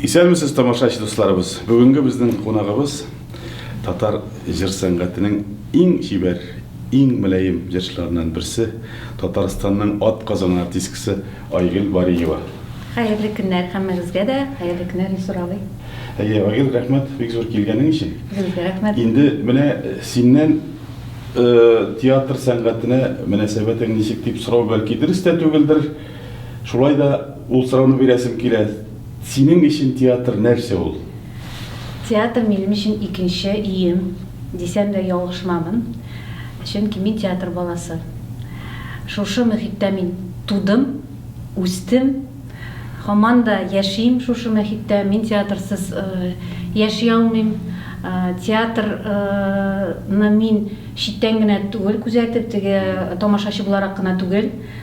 Исәнмесез, тамашач дусларыбыз! Бүгенге безнең кунагыбыз татар җыр сәнгатенең иң чибәр, иң мөлаем җырчыларыннан берсе, Татарстанның ат казанган артисткасы Айгөл Бариева. Хәерле көннәр һәммәгезгә дә, хәерле көннәр Илсур абый. Әйе, Айгөл, рәхмәт бик зур килгәнең өчен. Сезгә рәхмәт. Инде менә синнән театр сәнгатенә мөнәсәбәтең ничек дип сорау бәлки дөрес тә түгелдер, Шулай да ул сорауны бирәсем килә, синең өчен театр нәрсә ул? Театр минем өчен икенче өем, дисәм дә ялгышмамын. Чөнки мин театр баласы. Шушы мөхиттә мин тудым, үстем. Һаман да яшим шушы мөхиттә. Мин театрсыз яши алмыйм. Театрны мин читтән генә түгел күзәтеп, теге тамашачы буларак кына түгел.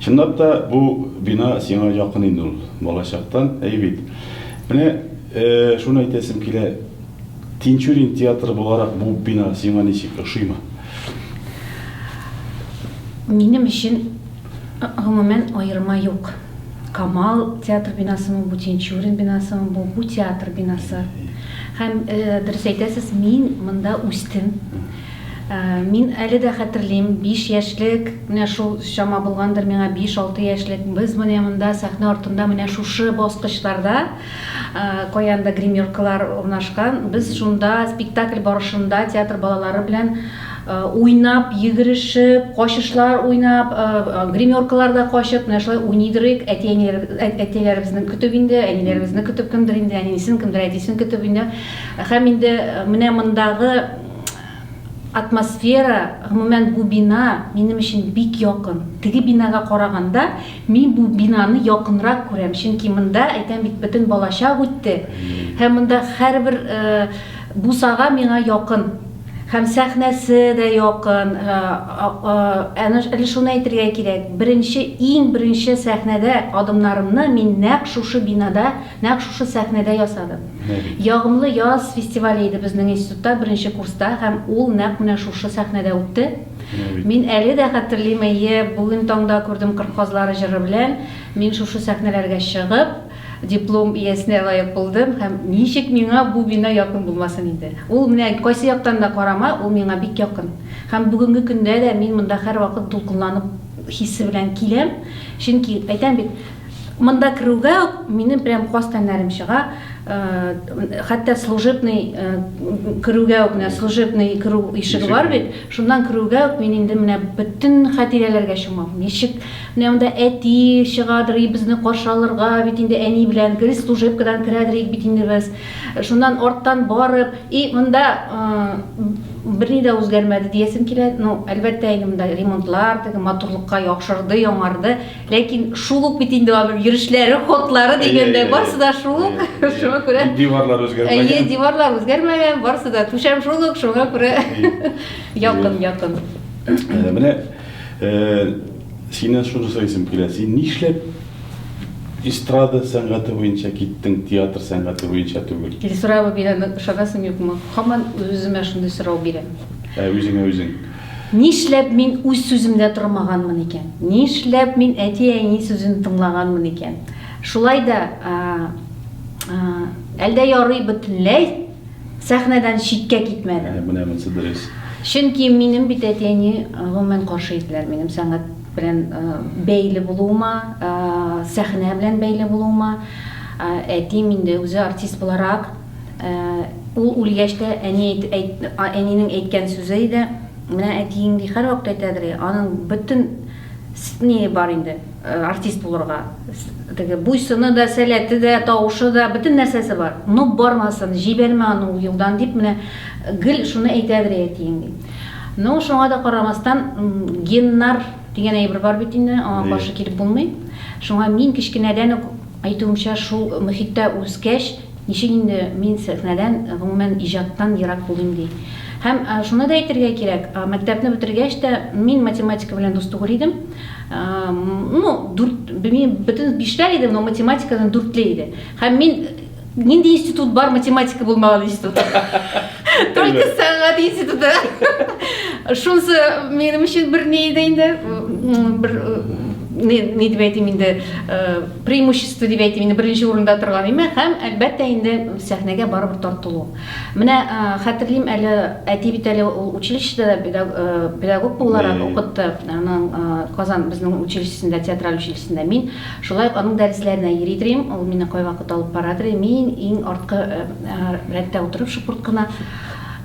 Чынлап та, бу бина сиңа якын инде ул, балачактан, әй бит. Менә шуны әйтәсем килә, Тинчурин театры буларак бу бина сиңа ничек, ошыймы? Минем өчен, гомумән, аерма юк. Камал театр бинасымы бу, Тинчурин бинасымы бу, бу театр бинасы. Һәм, дөрес әйтәсез, мин монда үстем. Мин әле дә хәтерлим, биш яшьлек, менә шул чама булгандыр миңа, биш-алты яшьлек, без менә монда сәхнә артында менә шушы баскычларда, каянда гримеркалар урнашкан, без шунда спектакль барышында театр балалары белән уйнап, йөгерешеп, качышлар уйнап, гримеркаларда качып, менә шулай уйный дөрик, әти-әниләребезне көтеп инде, әниләребезне көтеп, кемдер инде әнисен, кемдер әтисен көтеп инде. Һәм инде менә мондагы атмосфера, гомумән бу бина минем өчен бик якын. Теге бинага караганда, мин бу бинаны якынрак күрәм, чөнки монда, әйтәм бит, бөтен балачак үтте. Һәм монда һәрбер бусага миңа якын. Һәм сәхнәсе дә якын. Әле шуны әйтергә кирәк, беренче, иң беренче сәхнәдә адымнарымны мин нәкъ шушы бинада, нәкъ шушы сәхнәдә ясадым. Ягымлы яз фестивале иде безнең институтта беренче курста һәм ул нәкъ менә шушы сәхнәдә үтте. Мин әле дә хәтерлим, әйе, бүген таңда күрдем Кыр казлары җыры белән мин шушы сәхнәләргә чыгып, диплом иясенә лаек булдым һәм ничек миңа бу бина якын булмасын инде. Ул менә кайсы яктан да карама, ул миңа бик якын. Һәм бүгенге көндә дә мин монда һәрвакыт дулкынланып хисе белән киләм, чөнки, әйтәм бит, Монда керүгә минем прям каз тәннәрем чыга. Э, хәтта служебный э, керүгә үк, менә служебный керү ишеге бар бит. Шуннан керүгә үк мин инде менә бөтен хатирәләргә чумам. Ничек менә монда әти чыгадыр, безне каршы алырга, бит инде әни белән гел служебкадан керәдер бит инде без. Шуннан арттан барып, и монда э, берни дә үзгәрмәде диясем килә. Ну, әлбәттә, инде монда ремонтлар, теге матурлыкка яхшырды, яңарды. Ләкин шул ук бит инде аның йөрешләре, ходлары дигәндә барсы да шул ук. Шуңа күрә диварлар үзгәрмәгән. Әйе, диварлар үзгәрмәгән, барсы да түшәм шул ук, шуңа күрә якын, якын. Э, менә э, синен шуны сорыйсым килә. Син нишләп эстрада сәнгате буенча киттең, театр сәнгате буенча түгел? Или сорау бирәм, шагасым юкмы? Хаман үземә шундый сорау бирәм. Ә үзеңә үзең Нишләп мин үз сүземдә тормаганмын икән? Нишләп мин әти-әни сүзен тыңлаганмын икән? Шулай да, әлдә ярый бөтенләй сәхнәдән читкә китмәдем. Ә, менә монысы дөрес. Чөнки минем бит әти-әни гомумән каршы иделәр минем сәнгать белән бәйле булуыма, сәхнә белән бәйле булуыма. Әтием инде үзе артист буларак Ул үлгәч тә, әни әнинең әйткән сүзе иде, Менә әтиең ди, һәрвакыт әйтәдер, я, аның бөтен ние бар инде, артист булырга. Теге буйсыны да, сәләте дә, тавышы да, бөтен нәрсәсе бар. Ну, бармасын, җибәрмә аны ул юлдан, дип менә гел шуны әйтәдер әтиең, ди. Ну, шуңа да карамастан, геннар дигән әйбер бар бит инде, аңа каршы килеп булмый. Шуңа мин кечкенәдән үк, әйтүемчә, шул мөхиттә үскәч, Ничек инде мин сәхнәдән, гомумән, иҗаттан ерак булыйм ди. Һәм шуны да әйтергә кирәк, мәктәпне бетергәч тә мин математика белән дус түгел идем. Ну, дүрт, белмим, бөтен бишләр иде, но математикадан дүртле иде. Һәм мин нинди институт бар математика булмаган институт? Только сәнгать институты. Шунысы минем өчен бер ни иде инде, бер, ни дип әйтим инде, преимущество дип әйтим инде беренче урында торган имә һәм әлбәттә инде сәхнәгә барыбер тартылу менә хәтерлим әле әти бит әле ул училищеда педагог буларак укытты аның казан безнең училищесында театраль училищесында мин шулай ук аның дәресләренә йөри торыйм ул мине кайвакыт алып бара торый мин иң арткы рәттә утырып шупырт кына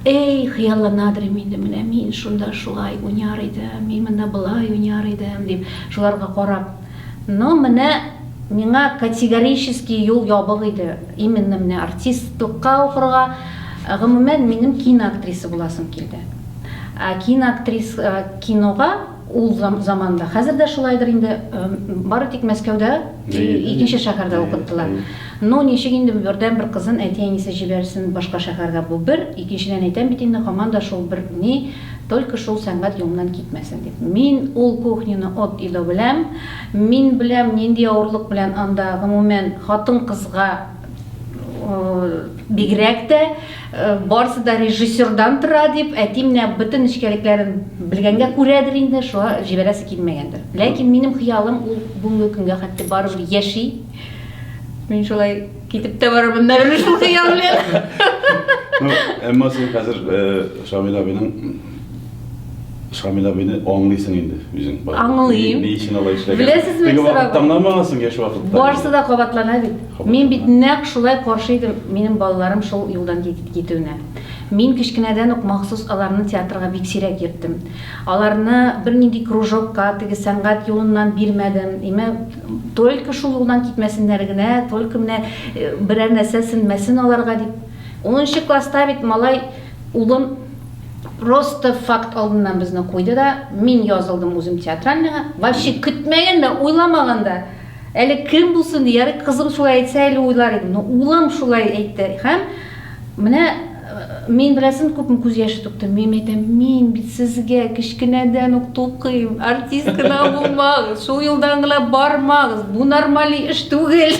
Эй, хыялланадыр инде менә мин шунда шулай уйнар идем, мин монда былай уйнар идем дип, шуларга карап Ну менә миңа категорически юл ябык иде именно менә артистлыкка укырга, гомумән минем киноактриса буласым килде. Ә киноактрис кинога ул заманда, хәзер дә шулайдыр инде, бары тик Мәскәүдә икенче шәһәрдә укыттылар. Ну ничек инде бердән бер кызын әти-әнисе җибәрсен башка шәһәргә, бу бер, икенчедән әйтәм бит инде, һаман да шул бер ни, Только шул сәнгать юлыннан китмәсен дип. Мин ул кухняны от и до беләм. Мин беләм, нинди авырлык белән анда, гомумән, хатын-кызга бигрәк тә, барысы да режиссердан тора дип, әти менә бөтен нечкәлекләрен белгәнгә күрәдер инде, шуңа җибәрәсе килмәгәндер. Ләкин минем хыялым ул бүгенге көнгә хәтле барыбер яши. Мин шулай. Китеп тә барырмын, бәрелер шул хыял белән. Ну, әмма син хәзер э, Шамил абыйның Шамил абыйны аңлыйсың инде үзең. бар. Аңлыйм. Ни ни өчен алай эшләгән? Беләсезме, Теге Мисыр вакытта абый? аңламагансың яшь вакытта. Барысы да кабатлана бит. Кабатлана. Мин бит нәкъ шулай каршы идем минем балаларым шул юлдан кит- китүенә. Мин кечкенәдән үк махсус аларны театрга бик сирәк йөрттем. Аларны бернинди кружокка, теге сәнгать юлыннан бирмәдем. Имә Только шул юлдан китмәсеннәр генә, только менә берәр нәрсә сенмәсен аларга дип. Унынчы класста бит малай улым просто факт алдыннан безне куйды да, мин язылдым үзем театральныйга, вообще көтмәгән дә, уйламаган да. Әле кем булсын ди, ярый кызым шулай әйтсә әле уйлар идем, но улым шулай әйтте һәм менә Мин беләсен күпме күз яше түктем. Мин әйтәм, мин бит сезгә кечкенәдән үк тукыйм. Артист кына булмагыз, шул юлдан гына бармагыз. Бу нормаль эш түгел.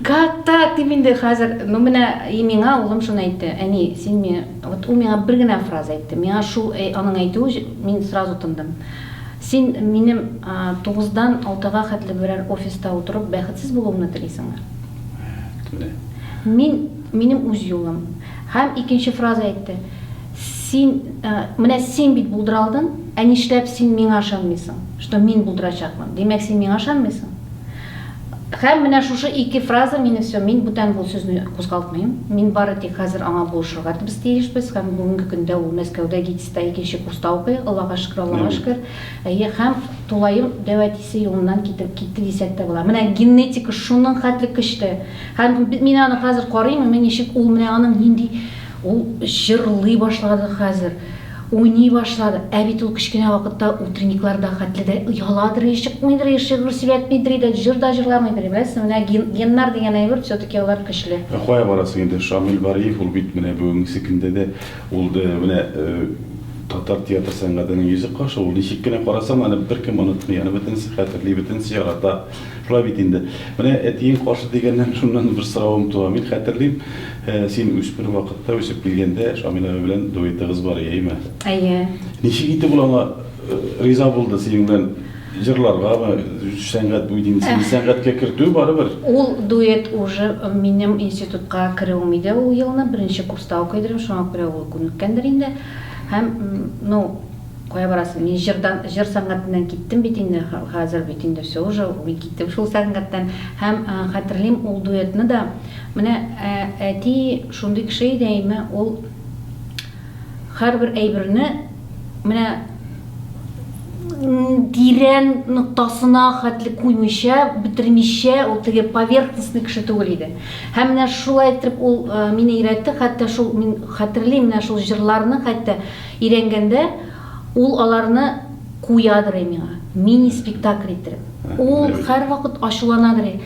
Как так? Дип инде хәзер, ну менә и миңа улым шуны әйтте. Әни, син миңа, вот ул миңа бер генә фраза әйтте. Миңа шул э, аның әйтүе мин сразу тындым. Син минем тугыздан алтыга хәтле берәр офиста утырып бәхетсез булуымны телисеңме? Мин Минем үз юлым. Һәм икенче фраза әйтте, Син, менә син бит булдыралдың, ә нишләп син миңа ышанмыйсың, что мин булдырачакмын? Димәк, син миңа ышанмыйсың? Һәм менә шушы ике фраза мине все, мин бүтән бу сүзне кузгалтмыйм. Мин бары тик хәзер аңа булышырга без тиешбез һәм бүгенге көндә ул Мәскәүдә ГИТИСта икенче курста укый, Аллага шөкер, Аллага шөкер. Әйе, һәм тулаем дәү әтисе юлыннан китеп китте дисәк тә була. Менә генетика шуның хәтле көчле. Һәм мин аны хәзер карыйм, менә ничек ул, менә аның нинди, ул җырлый башлады хәзер, уйный башлады. Ә бит ул кечкенә вакытта утренникларда хәтле дә яладыр, чыкмыйдыр, шигырь сөйләтмидер иде, җыр да җырламыйдыр иде. Беләсезме, менә геннар дигән әйбер, все-таки алар көчле. Ә кая барасың инде, Шамил Бариев, ул бит менә бүгенге көндә дә ул менә татар театр сәнгатенең йөзе кашы, ул ничек кенә карасаң да, аны беркем онытмый, аны бөтенесе хәтерли, бөтенесе ярата. Шулай бит инде. Менә әтиең каршы дигәннән, шуннан бер соравым туа. Мин хәтерлим, син үсмер вакытта, үсеп килгәндә, Шамил абый белән дуэтыгыз бар иде, әйеме? Әйе. Ничек итеп ул аңа риза булды, синең белән җырларгамы, сәнгать бу бит инде, сине сәнгатькә кертү барыбер. Ул дуэт уже минем институтка керүем иде ул елны, беренче курста укый идем, шуңа күрә ул күнеккәндер инде. Һәм, ну, Кая барасың? Мин җырдан, җыр сәнгатеннән киттем бит инде, хәзер бит инде всё уже, мин киттем шул сәнгатьтән. Һәм хәтерлим ул дуэтны да. Менә әти шундый кеше иде, әйме, ул һәрбер әйберне менә тирән ноктасына хәтле куймыйча, бетермичә, ул теге поверхностный кеше түгел иде. Һәм менә шулай итеп ул мине өйрәтте, хәтта шул мин хәтерлим, менә шул җырларны хәтта Өйрәнгәндә, ул аларны куядырый миңа, мини-спектакль иттереп. Ул һәрвакыт ачуланадырый.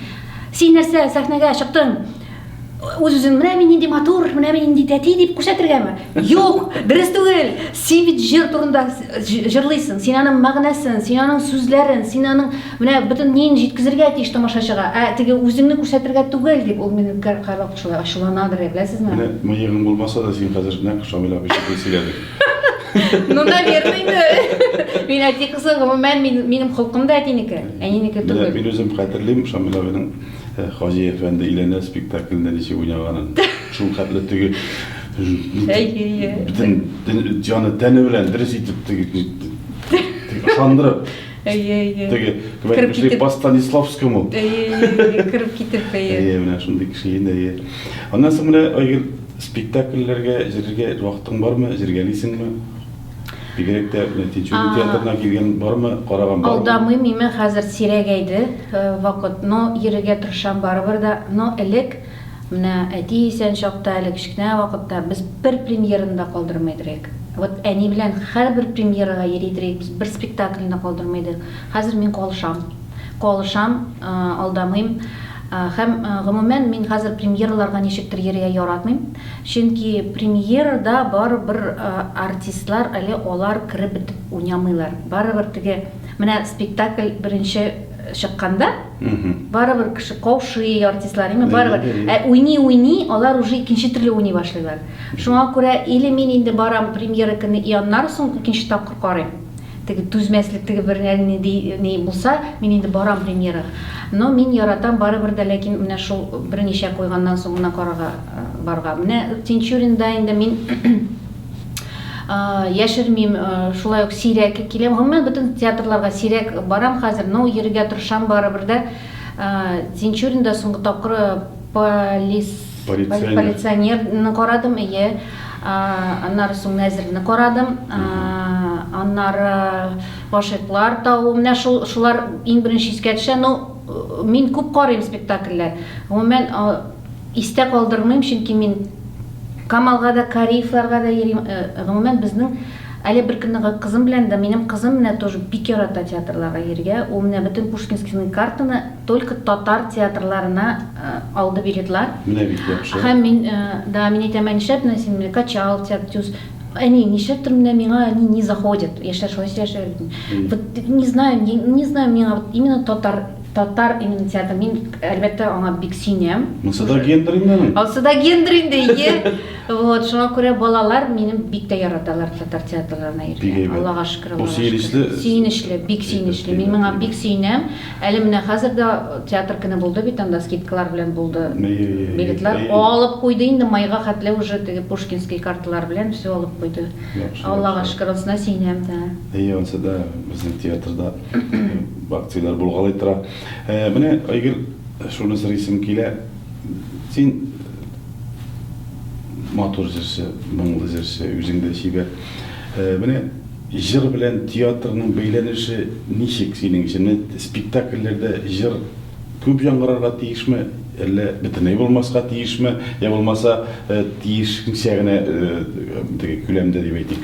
Син нәрсә, сәхнәгә чыктың, үз-үзең, менә мин нинди матур, менә мин нинди тәти дип күрсәтергәме? Юк, дөрес түгел! Син бит җыр турында җырлыйсың, син аның мәгънәсен, син аның сүзләрен, син аның Менә бөтен ниен җиткезергә тиеш тамашачыга, ә теге үзеңне күрсәтергә түгел, дип ул мине үпкә карлап шулай ачулана бирә, беләсезме? Менә мыегың булмаса да син хәзер нәкъ Шамил абый шикелле сөйләдең. Ну, наверное, инде. Мин әти кызы, гомумән, мин, минем холкым да әтинеке, әнинеке түгел. Менә мин үзем хәтерлим Шамил абыйның Хаҗи әфәнде өйләнә спектаклендә ничек уйнаганын. Шул хәтле теге бөтен җаны-тәне белән дөрес итеп теге, теге ышандырып. Әйе, әйе. Теге, кебек кеше по Станиславскому. Әйе, әйе, кереп китеп, әйе. Әйе, менә шундый кеше инде, әйе. Аннан соң менә Айгөл спектакльләргә җирергә вакытың бармы, җиргәлисеңме? Бигрәк тә Тинчурин э, театрына килгән бармы, караган бармы? Алдамыйм, миңа хәзер сирәгәйде э, вакыт, но йөрергә тырышам барыбер да, но элек Менә әти исән чакта, әле кечкенә вакытта без бер премьераны да калдырмый идр ек. Вот әни белән һәрбер премьерага йөри идр ек, без бер спектакльне дә калдырмый идек. Хәзер мин калышам. Калышам, алдамыйм. Һәм, гомумән, мин хәзер премьераларга ничектер йөрергә яратмыйм. Чөнки премьерада барыбер артистлар әле алар кереп бетеп уйнамыйлар. Барыбер теге, менә спектакль беренче чыкканда барыбер кеше каушый артистлар ими барыбер ә уйный уйный алар уже икенче төрле уйный башлыйлар шуңа күрә или мин инде барам премьера көне и аннары соң икенче тапкыр карыйм теге түзмәслек теге бер ни булса мин инде барам премьерага но мин яратам барыбер дә ләкин менә шул берничә куйганнан соң гына карарга барырга менә тинчуринда инде мин яшермим шулай ук сирәк киләм гомумән бөтен театрларга сирәк барам хәзер но йөрергә тырышам барыбер дә тинчуринда соңгы тапкыр полис полиционерны карадым ие аннары соң нәзерне карадым аннары гашыйклар тавы менә шул шулар иң беренче искә төшә но мин күп карыйм спектакльләр гомумән Истә калдырмыйм, чөнки мин Камалга да, Кариевларга да йөрим. Гомумән, безнең әле бер көнне кызым белән дә, минем кызым менә тоже бик ярата театрларга йөрергә. Ул менә бөтен Пушкинскийның картаны только татар театрларына алды билетлар. Менә бик яхшы. Һәм мин, да, мин әйтәм, ә нишләп менә син менә Качал, Тяктюз, әни, нишләптер менә миңа они не заходят. Яшьләр шулай сөйләшәләр бит инде. Вот не знаю, не знаю, миңа вот именно татар Татар иммунитеты, мин, әлбәттә, аңа бик сөенәм. Монсы да гендер инде аның. Ансы да гендер инде, ие. Вот, шуңа күрә балалар минем бик тә яраталар татар театрларына йөрергә. Бик әйбәт. Аллага шөкер, Аллага шөкер. Бу сөенечле. Сөенечле, бик сөенечле. Мин моңа бик сөенәм. Әле менә хәзер дә театр көне булды бит анда, скидкалар белән булды. Билетлар алып куйды инде, майга хәтле уже теге пушкинский карталар белән все алып куйды. Аллага шөкер, анысына сөенәм, да. Әйе, ансы да безнең театрда. Бакцияләр булгалый тора. Э, менә, Айгөл, шуны сорыйсым килә. Син матур җырчы, моңлы җырчы, үзең дә чибәр. Э, менә җыр белән театрның бәйләнеше ничек синең өчен? Спектакльләрдә җыр күп яңгырарга тиешме, әллә бөтенләй булмаска тиешме, я булмаса э, тиешенчә генә э, теге күләмдә дип әйтик.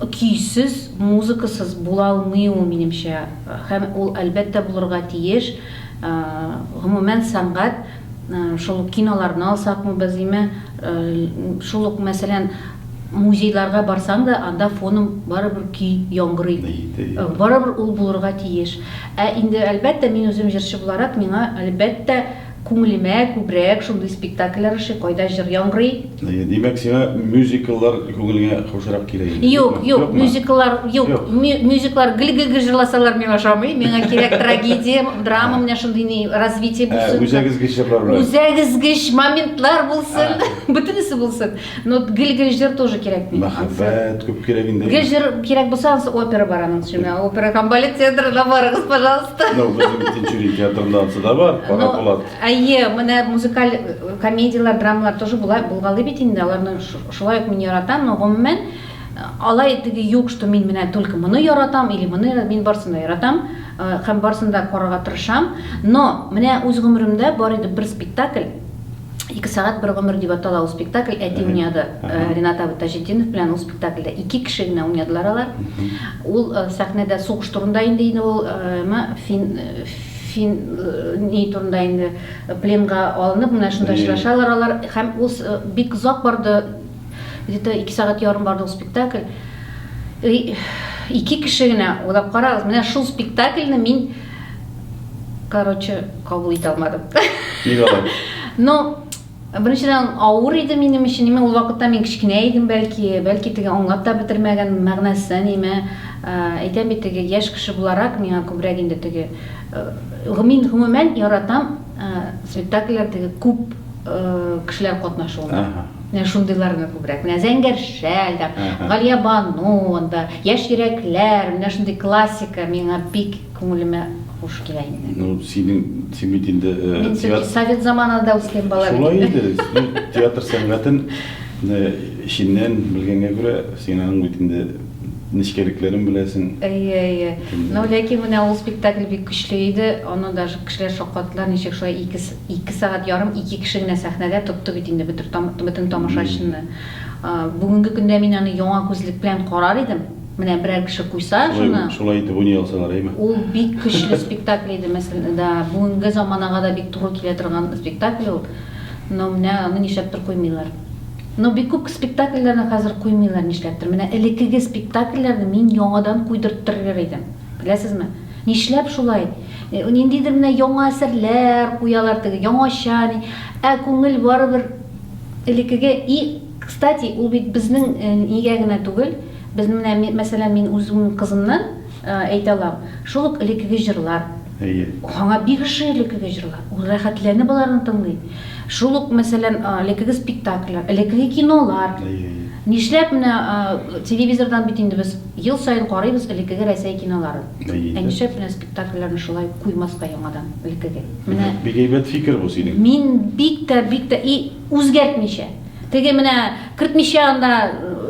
Көйсез, музыкасыз була алмый ул, минемчә. Һәм ул, әлбәттә, булырга тиеш. Гомумән, сәнгать, шул ук киноларны алсакмы, без име, шул ук, мәсәлән, музейларга барсаң да, анда фоном барыбер көй яңгырый. Барыбер ул булырга тиеш. Ә инде, әлбәттә, мин үзем җырчы буларак, миңа, әлбәттә, Күңелемә күбрәк шундый спектакльләр ошый, кайда җыр яңгырый. Әйе, димәк, сиңа мюзикллар күңелеңә хушрак килә инде. Юк, юк, мюзикллар, юк, мюзикллар гел гел җырласалар миңа ошамый. Миңа кирәк трагедия, драма, менә шундый ни развитие булсын. Ә үзәгезгеч җырлар белән. Үзәгезгеч моментлар булсын, бөтенесе булсын. Ну, гел гел җыр тоже кирәк бит. Мәхәббәт күп кирәк инде. Гел җыр кирәк булса, ансы опера бар аның өчен. Опера һәм балет театрына барыгыз, пожалуйста. Ну, безнең Тинчурин театрында ансы да бар, Кара Булат. Әйе, менә музыкаль э, комедияләр, драмалар тоже була, булгалый бит инде. Аларны шулай ук мин яратам, но гомумән э, алай теге юк, что мин менә только моны яратам или моны мин барсын да яратам э, һәм барсын да карарга тырышам. Но менә үз гомеремдә бар иде бер спектакль, Ике сәгать бер гомер дип атала ул спектакль. Әти уйнады Ренат абый Таҗетдинов белән ул спектакльдә. Ике кеше генә уйнадылар алар. Ул сәхнәдә сугыш турында инде инде ул фин фин ни турында инде пленга алынып менә шунда очрашалар алар һәм ул бик озак барды. Где-то 2 сәгать ярым барды ул спектакль. Ике кеше генә уйлап карагыз, менә шул спектакльне мин Короче, кабул итә алмадым. Ник алай? Ну, беренчедән авыр иде минем өчен. Ниме ул вакытта мин кечкенә идем, бәлки, бәлки теге аңлап та бетермәгән мәгънәсен, ниме. Әйтәм бит теге яшь кеше буларак миңа күбрәк инде теге гомин гомумән яратам Спектакльләрдәге күп кешеләр катнашуында. Менә шундыйларны күбрәк. Менә Зәңгәр шәл, Галия Бану, анда Яшь йөрәкләр, менә шундый классика миңа бик күңелемә хуш килә инде. Ну, синең, син бит инде театр... Совет заманында үскән бала бит. Шулай инде, театр сәнгатен эченнән белгәнгә күрә, син аның бит инде Нечкәлекләрен беләсең. Әйе, әйе. Но ләкин менә ул спектакль бик көчле иде, аны даже кешеләр шаккаттылар, ничек шулай ике ике сәгать ярым ике кеше генә сәхнәдә тотты бит инде бөтен тамашачыны. Бүгенге көндә мин аны яңа күзлек белән карар идем, менә берәр кеше куйса шуны. Шулай итеп уйный алсалар, әйме? Ул бик көчле спектакль иде, мәсәлән, да, бүгенге заманага да бик туры килә торган спектакль ул. Но менә аны нишләптер куймыйлар. Ну бик күп спектакльләрне хәзер куймыйлар нишләптер. Менә элекеге спектакльләрне мин яңадан куйдырттырыр идем. Беләсезме? Нишләп шулай? Ниндидер менә яңа әсәрләр куялар теге, яңача ни. Ә күңел барыбер элекеге. И, кстати, ул бит безнең нигә генә түгел, безнең менә мәсәлән мин үземнең кызымнан әйтә алам, шул ук элекеге җырлар. Әйе. Аңа бик ошый элеккеге җырлар. Ул рәхәтләнеп боларны тыңлый. Шул ук, мәсәлән, элеккеге спектакльләр, элеккеге кинолар. Әйе, әйе. Нишләп менә телевизордан бит инде без ел саен карыйбыз элеккеге Рәсәй киноларын. Әйе. Ә нишләп менә спектакльләрне шулай куймаска яңадан элеккеге? Менә. Бик әйбәт фикер бу синең. Мин бик тә, бик тә и үзгәртмичә. Теге менә кертмичә анда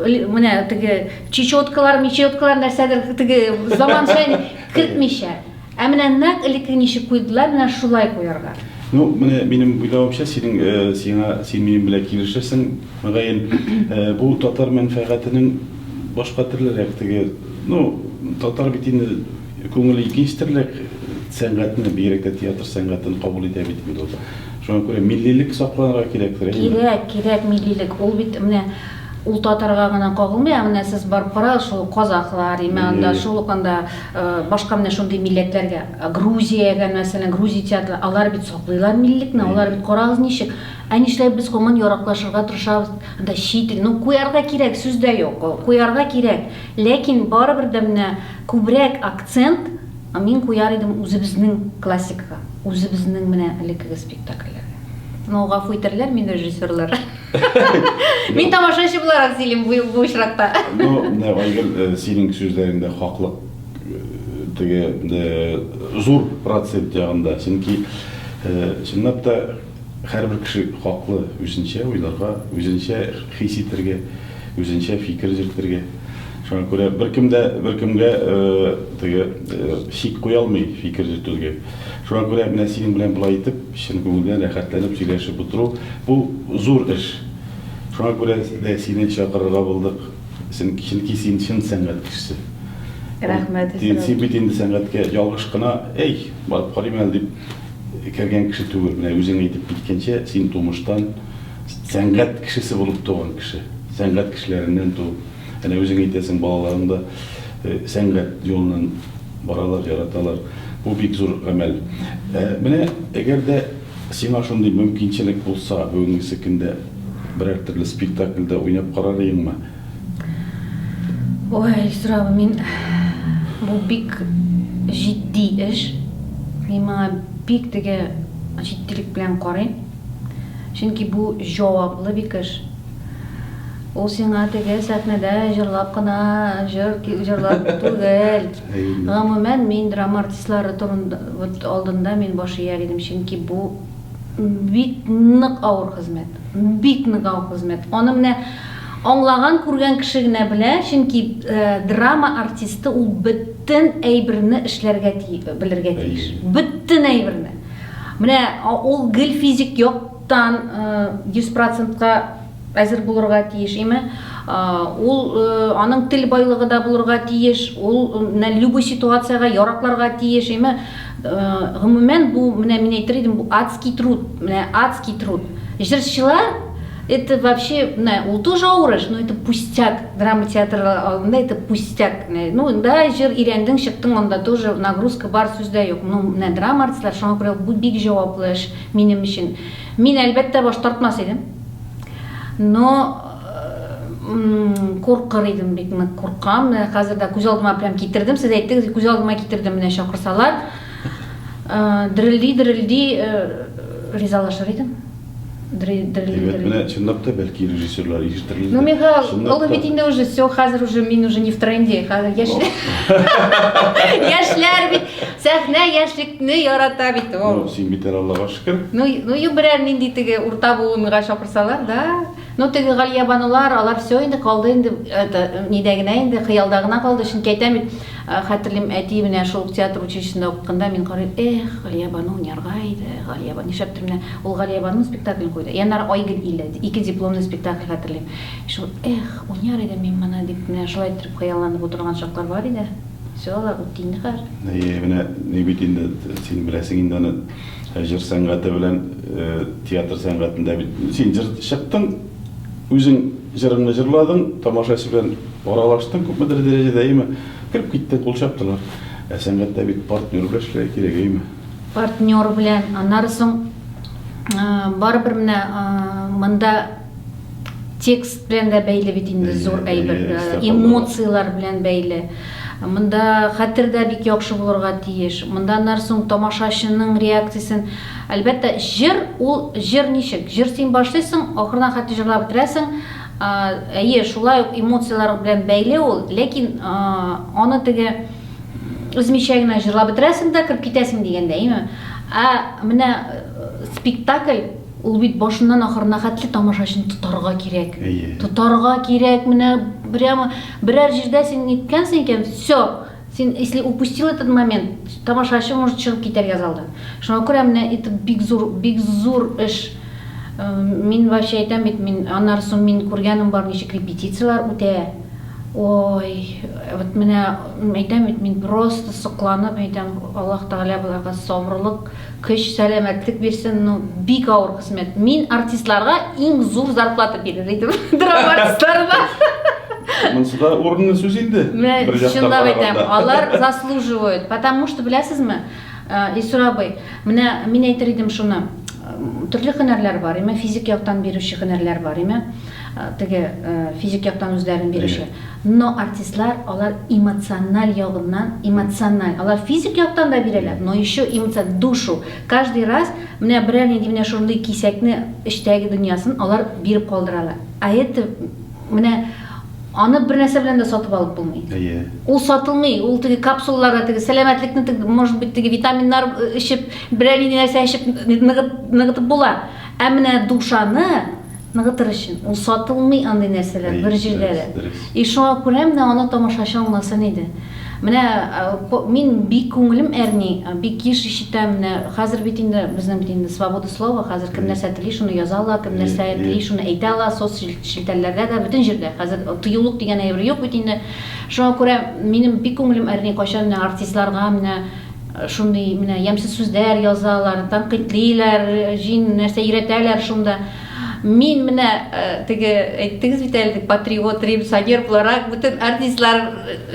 менә теге чечеткалар, мечеткалар нәрсәдер теге заманча кертмичә. Ә менә нәкъ элекке ничек куйдылар, менә шулай куярга. Ну, менә минем уйлавымча, синең э, сиңа син минем белән килешәсең, мөгаен, э, бу татар мәнфәгатенең башка төрлерәк теге, ну, татар бит инде күңеле икенче төрлерәк сәнгатьне, бигрәк тә театр сәнгатен кабул итә бит инде ул. Шуңа күрә миллилек сакланырга кирәктер, әйеме? Кирәк, кирәк миллилек. Ул бит менә ул татарга гына кагылмый, ә менә сез барып карагыз, шул казахлар, имә анда, шул ук анда Башка менә шундый милләтләргә, Грузиягә мәсәлән, грузия театры, алар бит саклыйлар миллекне, алар бит карагыз ничек. Ә нишләп без гомумән яраклашырга тырышабыз, анда чит ил, ну куярга кирәк, сүз дә юк, куярга кирәк, ләкин барыбер дә менә күбрәк акцент мин куяр идем үзебезнең классикага, үзебезнең менә элеккеге спектакльләргә. Ну гафу итәрләр мине режиссерлар. Мин тамашачы буларак сөйлим бу, бу очракта. Ну, менә Айгөл, э, синең сүзләреңдә хаклык э, теге э, зур процент ягында. Чөнки э, чынлап та һәрбер кеше хаклы үзенчә уйларга, үзенчә хис итәргә, үзенчә фикер йөртергә. Шуңа күрә беркем дә беркемгә э, теге э, шик куя алмый фикер йөртергә. Шуңа күрә менә синең белән болай итеп Чын күңелдән рәхәтләнеп сөйләшеп утыру, бу зур эш. Шуңа күрә дә сине чакырырга булдык. Чөнки син чын сәнгать кешесе. Рәхмәт, Эсрау. Син бит инде сәнгатькә ялгыш кына, әй, барып карыйм әле дип кергән кеше түгел. Менә үзең әйтеп киткәнчә, син тумыштан сәнгать кешесе булып туган кеше. Сәнгать кешеләреннән туып. Әнә үзең әйтәсең, балаларың да сәнгать юлыннан баралар, яраталар. Бу бик зур гамәл. Ә менә әгәр дә сиңа шундый мөмкинчелек булса, бүгенгесе көндә берәр төрле спектакльдә уйнап карар идеңме? Ой, сорау, мин бу бик җитди эш. Мин моңа бик теге җиттилек белән карыйм. Чөнки бу җаваплы бик эш. Ул сиңа теге сәхнәдә җырлап кына җыр җырлап түгел. Гомумән, мин драма артистлары турында алдында мин баш ияр идем, чөнки бу бик нык авыр хезмәт. Бик нык авыр хезмәт. Аны менә аңлаган, күргән кеше генә белә, чөнки драма артисты ул бөтен әйберне эшләргә белергә тиеш. Бөтен әйберне. Менә ул гел физик яктан 100 процентка әзер булырга тиеш, име, ул аның тел байлыгы да булырга тиеш, ул менә любой ситуациягә яракларга тиеш, име, гомумән бу менә мин әйтер идем, бу адский труд, менә адский труд. Җырчылар это вообще, менә ул тоже авырыш, но это пустяк, драма театры алдында это пустяк, ну да җыр өйрәндең, чыктың, анда тоже нагрузка бар, сүз дә юк, ну менә драма артистлары, шуңа күрә бу бик җаваплы эш минем өчен. Мин әлбәттә баш тартмас идем. Но куркыр идем бик нык куркам менә хәзер дә күз алдыма прям китердем сез әйттегез күз алдыма китердем менә чакырсалар э, дерелди дерелди э, ризалашыр идем Әйбәт, менә чынлап та бәлки режиссерлар ирештерелде. Ну, Михаил, ул бит инде уже все, хәзер уже мин уже не в тренде, хәзер яшьләр. Яшьләр бит сәхнә яшьлекне ярата бит ул. Ну, син бит Аллага Кем? Ну, ну и берәр нинди теге урта буынга чакырсалар, да. Ну теге Галиябанулар, алар все инде калды инде, это нидә генә инде хыялда гына калды, чөнки әйтәм бит, э, хәтерлим әти менә шул театр училищесында укыганда мин карыйм, эх, Галиябану уйнарга иде, Галиябан, нишләптер менә ул Галиябану спектаклен куйды. И аннары Айгөл иле, ике дипломный спектакль хәтерлим. Шул, эх, уйнар идем мин моны дип менә шулай иттереп хыялланып утырган чаклар бар иде. Все, алар үтте инде хәзер. Әйе, менә ни бит инде, син беләсең инде аны. Җыр сәнгате белән театр сәнгатендә бит син җыр чыктың, үзең җырыңны җырладың, тамашачы белән аралаштың күпмедер дәрәҗәдә, әйеме? Кереп киттең, кул чаптылар. Ә сәнгатьтә бит партнер белән эшләргә кирәк, әйеме? Партнер белән, аннары соң барыбер менә монда Текст белән дә бәйле бит инде Бәйле, зур бәйле, әйбер. Э, истә калдырган. Эмоцияләр белән бәйле. Монда хәтер дә бик яхшы булырга тиеш. Монда аннары соң тамашачының реакциясен. Әлбәттә, җыр ул җыр ничек? Җыр син башлыйсың, ахырдан хәтта җырлап бетерәсең. А, Әйе, шулай ук эмоцияләр белән бәйле ул, ләкин а, аны теге өзмичә генә җырлап бетерәсең дә кереп китәсең дигәндә, әйеме? Ә менә э, спектакль Ул бит башыннан ахырына хәтле тамашачыны тотарга кирәк. Әйе. Тотарга кирәк, менә прямо берәр җирдә син ниткәнсең икән, все, син если упустил этот момент, тамашачы может чыгып китәргә залдан. Шуңа күрә менә это бик зур, бик зур эш. Э, мин вообще әйтәм бит, мин аннары соң мин күргәнем бар ничек репетицияләр үтә. Ой, вот менә әйтәм бит, мин просто сокланып әйтәм, Аллаһ Тәгалә боларга сабырлык Көч сәламәтлек бирсен ну бик авыр хезмәт мин артистларга иң зур зарплата бирер идем драма артистларына Монсы да урынлы сүз инде. Бер жактан караганда. Алар заслуживают, потому что беләсезме, э, Исур абый, менә мин әйтер идем шуны, төрле һөнәрләр бар, име физик яктан бирүче һөнәрләр бар, име. Теге, физик яктан үзләрен бирүче. Но артистлар, алар эмоциональ ягыннан, эмоциональ, алар физик яктан да бирәләр, но еще эмоци, душу. Каждый раз менә берәр нинди менә шундый кисәкне, эчтәге дөньясын алар биреп калдыралар. А это, менә аны бер нәрсә белән дә сатып алып булмый. Әйе. Ул сатылмый, ул теге капсулаларда теге сәламәтлекне теге, может быть, теге витаминнар эчеп, берәр нинди нәрсә эчеп ныгытып була. Ә менә душаны, Ныгытыр өчен. Ул сатылмый андый нәрсәләр, бер җирдәге. И шуңа күрә менә аны тамашачы аңласын иде. Менә мин бик күңелем әрни, бик еш ишетәм, менә хәзер бит инде безнең бит инде свобода слова, хәзер кем нәрсә тели, шуны яза ала, кем нәрсә тели, шуны әйтә ала, соц челтәрләрдә дә, бөтен җирдә. Хәзер тыюлык дигән әйбер юк бит инде. Шуңа күрә минем бик күңелем әрни, кайчан менә артистларга менә Шундый менә ямьсез сүзләр язалар, тәнкыйтьлиләр, җин нәрсә өйрәтәләр шунда. Мин менә э, теге әйттегез бит әле патриот, революционер буларак бөтен артистлар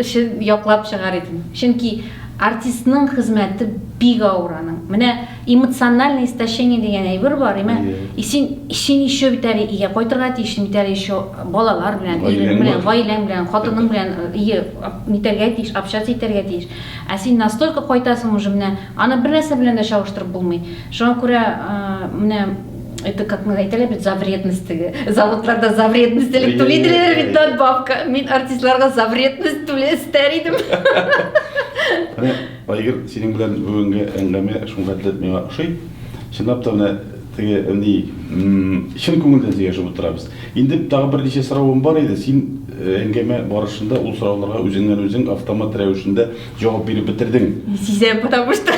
өчен яклап чыгар идем. Чөнки артистның хезмәте бик авыр аның. Менә эмоциональное истощение дигән әйбер бар, имә. И син син еще бит әле өйгә кайтырга тиеш, бит әле еще балалар белән, ирең белән, гаиләң белән, хатының белән, э, ие, нитәргә тиеш, общаться итәргә тиеш. Ә син настолько кайтасың уже менә, аны бернәрсә белән дә чагыштырып булмый. Шуңа күрә менә это как мы әйтәләр бит за вредность теге. Заводларда за вредность элек түли диләр бит надбавка. Мин артистларга за вредность түле истәр идем. Менә Айгөл синең белән бүгенге әңгәмә шуңа дип миңа ошый. Чынлап та менә Теге әни чын күңелдән сөйләшеп утырабыз. Инде тагы берничә соравым бар иде, син әңгәмә барышында ул сорауларга үзеңнән үзең автомат рәвешендә җавап биреп бетердең. Сизәм, потому что.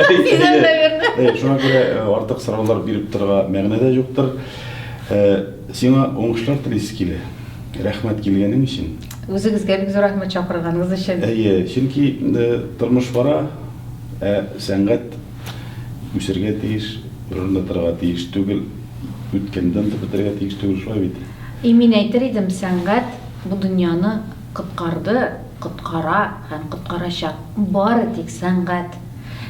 Сизәм, наверное. Шуңа күрә артык сораулар биреп торырга мәгънә дә юктыр. Сиңа уңышлар телисе килә. Рәхмәт килгәнең өчен. Үзегезгә бик зур рәхмәт чакырганыгыз өчен. Әйе, чөнки тормыш бара, ә сәнгать Үсергә тиеш, урынында торырга тиеш түгел, үткәнне онытып бетерергә тиеш түгел, шулай бит? И, мин әйтер идем, сәнгать бу дөньяны коткарды, коткара һәм коткарачак. Бары тик сәнгать.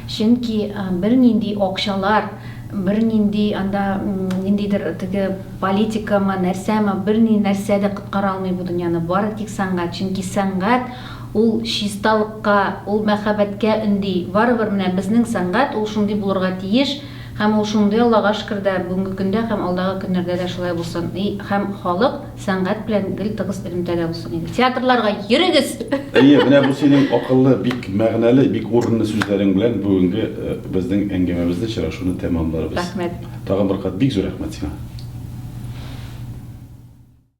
Чөнки бернинди акчалар, бернинди анда ниндидер теге политикамы, нәрсәме, берни нәрсә дә коткара алмый бу дөньяны, бары тик сәнгать. Чөнки сәнгать Ул чисталыкка, ул мәхәббәткә өнди. Барыбер менә безнең сәнгать ул шундый булырга тиеш һәм ул шундый Аллага шөкер дә, бүгенге көндә һәм алдагы көннәрдә дә шулай булсын и һәм халык сәнгать белән гел тыгыз элемтәдә булсын иде. Театрларга йөрегез! Әйе, менә бу синең акыллы, бик мәгънәле, бик урынлы сүзләрең белән бүгенге безнең әңгәмәбезне, очрашуны тәмамларбыз. Рәхмәт. Тагын бер кат бик зур рәхмәт сиңа.